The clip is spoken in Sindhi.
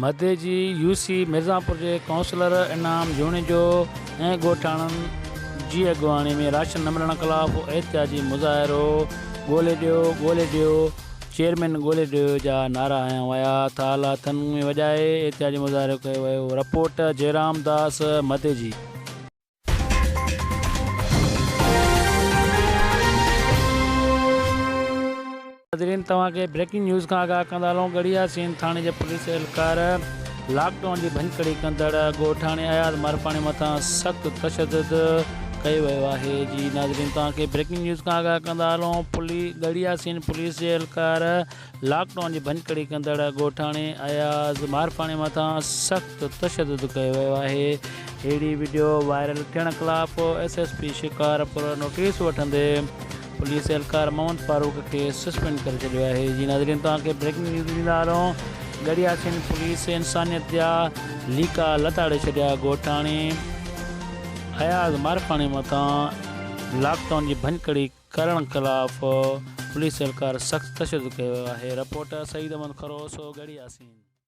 مھدي جي يو سي ميرزانپور جي ڪائونسلر انعام جوڻيجو ۽ ڳوٺاڻن جي اڳواڻي ۾ راشن نه ملڻ خلاف احتجاجي مظاهرو ڳولي ڏيو ڳولي ڏيو چيئرمين ڳولي ڏيو جا نعرا ھنيا ويا تھ آلا ھٿن ۾ وڄائي احتجاجي مظاھرو ڪيو ويو رپورٽ جئرام داس مھدي جي ناظرين توهان کي بريڪنگ نيوز کان آگاهه ڪندا هلون ڳڙهي ياسين ٿاڻي جي پوليس اهلڪار لاڪ ڊائون جي ڀڃڪڙي ڪندڙ ڳوٺاڻي اياز مارپاڻي مٿان سخت تشدد ڪيو ويو آهي جي ناظرين توهان کي بريڪنگ نيوز کان آگاهه ڪندا هلون ڳڙهي ياسين پوليس جي اهلڪار لاڪ ڊائون جي ڀڃڪڙي ڪندڙ ڳوٺاڻي اياز مارفاڻي مٿان سخت تشدد ڪيو ويو آهي، اهڙي وڊيو وائرل ٿيڻ خلاف S S P Shikarpur notice وٺندي پوليس اهلڪار محمد فاروق کي سسپينڊ ڪري ڇڏيو آهي جي ناظرين توهان کي بريڪنگ نيوز ڏيندا رهون ڳڙهي آڇين پوليس انسانيت جا ليڪا لتاڙي ڇڏيا ڳوٺاڻي اياز مارفاڻي مٿان لاڪ ڊائون جي ڀڃڪڙي ڪرڻ خلاف پوليس اهلڪار سخت تشدد ڪيو آهي رپورٽ سعيد احمد خروس ڳڙهياسين.